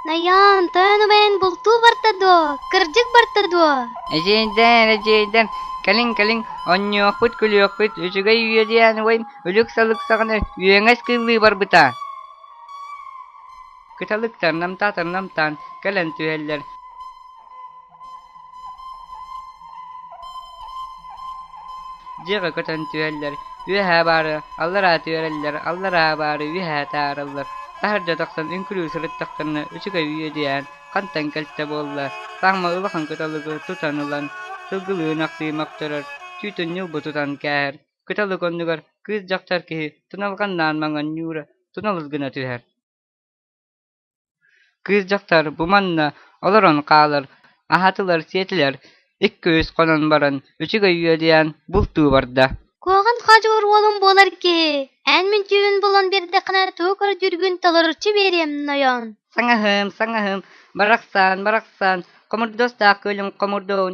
Найаан, тойон убайын бултуу барта дуо? Кырдьык барта дуо? Эдьиийдэн, эдьиийдэн, кэлин-кэлин онньуохпут-күлүөхпүт үчүгэй үйэ диэн убайым өлүк-салыксаҕына үөҥэс кыыллыы барбыта. Кыталык тарнамтаа-тарнамтаан кэлэн түһэллэр дьиэҕэ көтөн түһэллэр үөһээ баары аллараа түһэрэллэр аллараа баары үөһээ таараллар таһырдьа тахсан үҥкүрүү сырыттахтарына үчүгэй үөдүйээн хантан кэлтэ буолла саамма улахан кыталыгы тутан ылан сылгылыын ахсыы мөхтөрөр түүтүн ньылбы тутан кээһэр кыталык оннугар кыыс дьахтар киһи туналҕаннаан маҥанньуура туналыс гына түһэр кыыс дьахтар бу манна олорон хаалар аһатылар сиэтилэр иккис хонон баран үчүгэй үөдэйэн бултуу барда куоҕан хоодьугур уолум буолар киһи эн мүнчүүбүн булан биэрдэххинэ тугу көрдүүргүн толоруччу биэриэм нойон саҥаһым саҥаһым барахсан барахсан хомурдуостаах күөлүм хомурдуун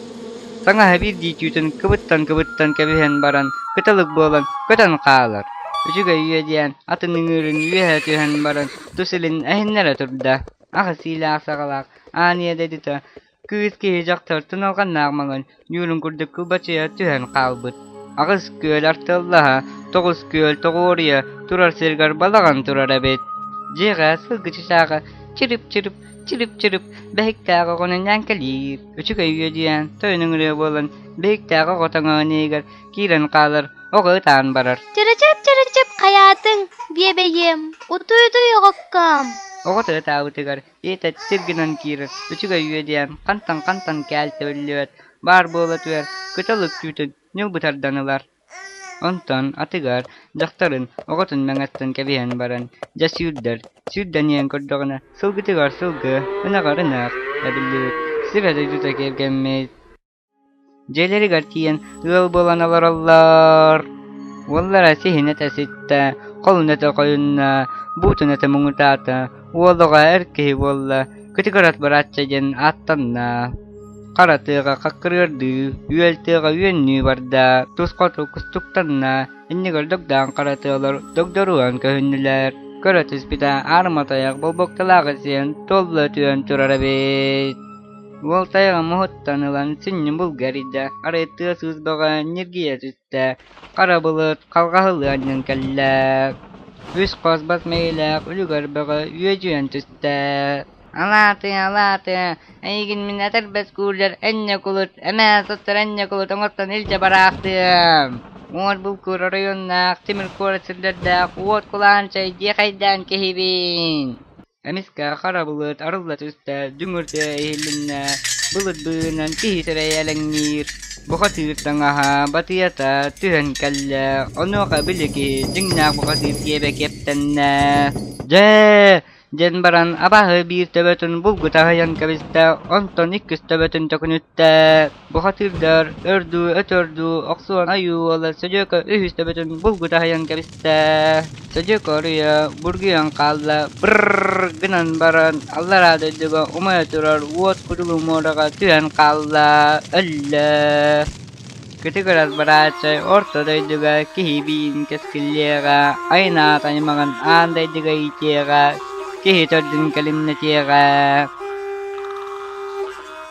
Таҥаһа биирдии түүтүн кыбыттан-кыбыттан кэбиһэн баран кыталык буолан көтөн хаалар, үчүгэй үөдээн атын ыҥыырын үөһэ түһэн баран тус илин эһиннэрэ турда, аҕыс иилээх саҕалаах аан ийэ дойдута кыыс киһи дьахтартан алҕаннаах маҥан ньуурун курдук кылбачыйа түһэн хаалбыт, аҕыс күөл артыаллаһа, тоҕус күөл тоҕуоруйа турар сиригэр балаҕан турар эбит, дьиэҕэ сылгычычааҕы чирип-чирип Чилип-чилип бэһиктээх оҕону иҥээн кэлиир, үчүгэй үөдүйээн тойон ыҥырыа буолан бэһиктээх оҕо тоҥоон иһигэр киирэн хаалар, оҕо ытаан барар. Чырычап, чырычап, хайаатыҥ, биэбэйиэм, утуйутуй оҕоккоом. Оҕото ытаабытыгар ийэтэ тир гынан киирэр, үчүгэй үөдүйээн хантан-хантан кээл төбүллүбэт, баар буола түһэр, кытал үктүүтүн ньылбы тардан ылар. Онтон атыгар дьахтарын оҕотун мэҥэттэн кэбиһэн баран дьэ сүүрдэр, сүүрдэниэн көрдөҕүнэ сылгытыгар сылгы, ынаҕар ынах эбиллибит, сибэ дойдута киэргэммит. Дьиэлэригэр тиийэн ыал буолан олороллор. Уоллара сиһинэтэ ситтэ, холуната хойунна, буутуната муҥутаата, Уолуга эр киһи буолла Кытыкырат Быраачча диэн ааттанна. Хара тыаҕа хаккырыардыы, үөл тыаҕа үөннүү барда, тус хоту кустуктанна, инник өлдөгдөөн хара тыалар догдоруан көһүннүлэр. Көрө түспүтэ аарыма тайах болбокталаах сиэн толла түөн турар эбит. Уол тайаҕа муһуттан ылан синньин булга эрийдэ, арай тыа сыыс бөҕө ньиргийэ түстэ. Дьэ, харабылыт халҕаһылыанньан кэллэ, үс хос бас-мэйиилээх үлүгэр бөҕө үөдьүйэн түстэ: «Алаатыы, алаатыы, эйигин мин этэрбэс куулдьар энньэ кулут, эмээ суттар энньэ кулут оҥостон илдьэ бараахтыам! Уот булкуур оройуоннаах, тимир куорат сирдэрдээх уот кулаан чэй диэхэйдээн киһибин!» Эмискэ харабылыт арылла түстэ, дүҥүрдэ иһиллиннэ, былырбыынан киһи сирэйэ элэҥниир, бухатыыр таҥаһа, батыйата түһэн кэллэ, онуоха били киһи дьиҥнээх бухатыыр диэбэ киэптэннэ. «Дьэ!» диэн баран абааһы биир төбөтүн булгута аһыйан кэбистэ, онтон иккис төбөтүн төкүнүттэ. Бухатыырдар өрдүү өтөрдүү охсуон ойуол Содьуока үһүс төбөтүн булгут аһыйан кэбистэ. Содьуока уруйа бургуйан хаалла. Бырррр гынан баран аллараа дойдуга умайа турар уот кутугу муораҕа түһэн хаалла, өллө. Кытыгырас бырааччай орто дойдуга киһибиин кэскиллиэҕэ, айнаат аймаҕын аан дойдуга иитиэҕэ, киһи төрдүн кэлимнэтиэҕэ.